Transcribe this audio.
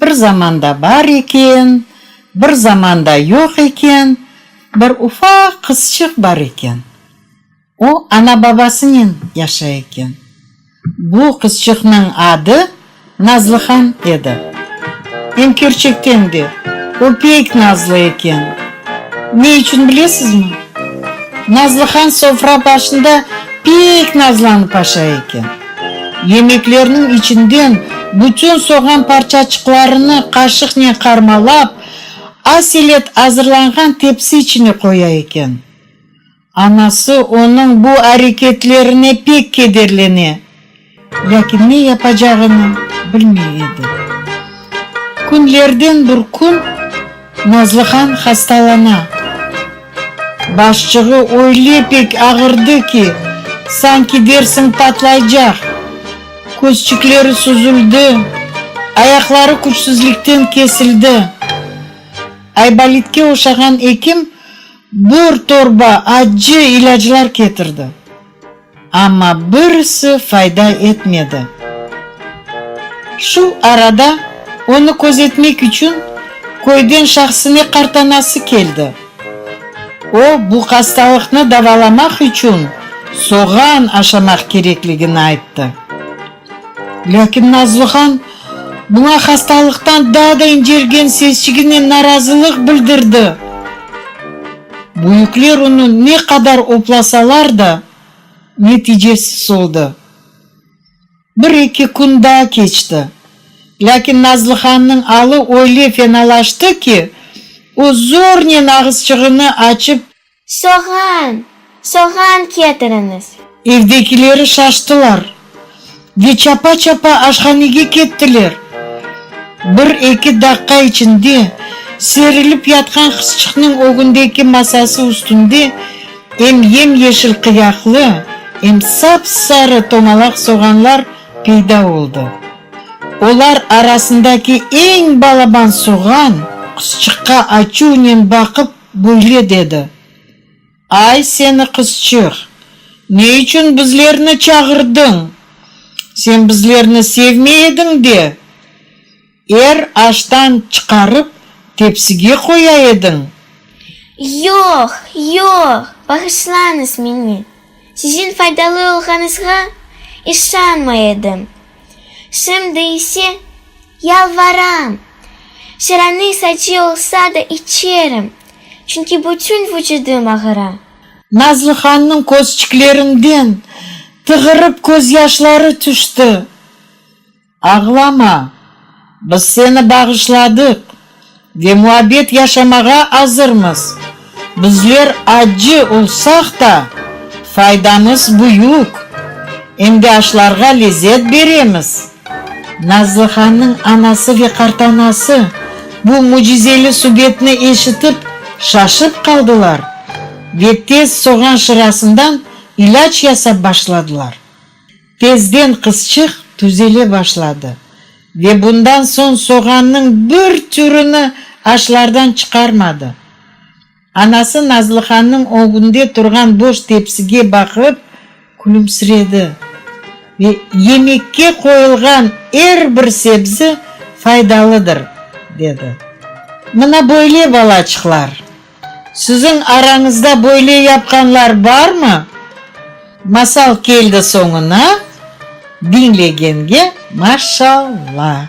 Bir zamanda bar eken, bir zamanda yoq eken, bir ufaq qızçıq bar eken. O, ana-babasınen yaşay eken. Bu qızçıqnıñ adı Nazlıhan edi. Em kerçekten de, o pek nazlı eken. Ne içün bilesizmi? Nazlıhan sofra başında pek nazlanıp aşa eken. Yemeklerniñ içinden bütün soğan parçaçıqlarını qaşıqnen qarmalap, az elet azırlanğan tepsi içine qoya eken. Anası onıñ bu areketlerine pek kederlene, lâkin ne yapacağını bilmey edi. Künlerden bir kün. Nazlıhan hastalana. Başçığı öyle pek ağırdı ki, sanki dersiñ patlaycaq. Közçikleri süzüldi, ayaqları küçsüzlikten kesildi. Aybolitke oşağan ekim bir torba accı ilâclar ketirdi. Amma birisi fayda etmedi. Şu arada onı közetmek içün köyden şahsine qartanası keldi. O, bu hastalıqnı davalamaq içün soğan aşamaq kerekligini ayttı. Lâkin Nazlıhan buña hastalıqtan daa da incelgen sesçiginen narazılıq bildirdi. Büyükler onı ne qadar oplasalar da, neticesiz oldı. Bir-eki kün daa keçti. Lâkin Nazlıhannıñ alı öyle fenalaştı ki, o zornen ağızçığını açıp, Soğan! Soğan ketiriñiz! Evdekileri şaştılar ve çapa-çapa aşhanege kettiler. Bir-eki daqqa içinde serilip yatqan qızçıqnıñ ögündeki masası üstünde em yem-yeşil qıyaqlı, em sap-sarı tomalaq soğanlar peyda oldı. Olar arasındaki eñ balaban soğan qızçıqqa açuvnen baqıp Böyle dedi, Ay, seni qızçıq, ne içün bizlerni çağırdıñ? Sen bizlerni sevmey ediñ de, er aştan çıqarıp, tepsige qoya ediñ. Yoq, yoq, bağışlañız meni, siziñ faydalı olğanızğa işanmay edim. Şimdi ise, yalvaram, şaraniy sacı olsa da içerim, çünki bütün vucudım ağıra. Nazlıhannıñ közçiklerinden tığırıp közyaşları tüşti. Ağlama! Biz seni bağışladıq ve muabbet yaşamağa azırmız. Bizler acı olsaq da, faydamız büyük, endiaşlarğa lezzet beremiz. Nazlıhannıñ anası ve qartanası bu mücizeli subetni eşitip, şaşıp qaldılar ve tez soğan şırasından ilâc yasap başladılar. Tezden qızçıq tüzele başladı ve bundan soñ soğannıñ bir türüni aşlardan çıqarmadı. Anası Nazlıhannıñ ögünde turğan boş tepsige baqıp külümsiredi ve yemekke qoyulğan er bir sebzi faydalıdır, dedi. Mına böyle, balaçıqlar! Siziñ arañızda böyle yapqanlar barmı? Masal keldi soñuna, diñlegenge maşalla.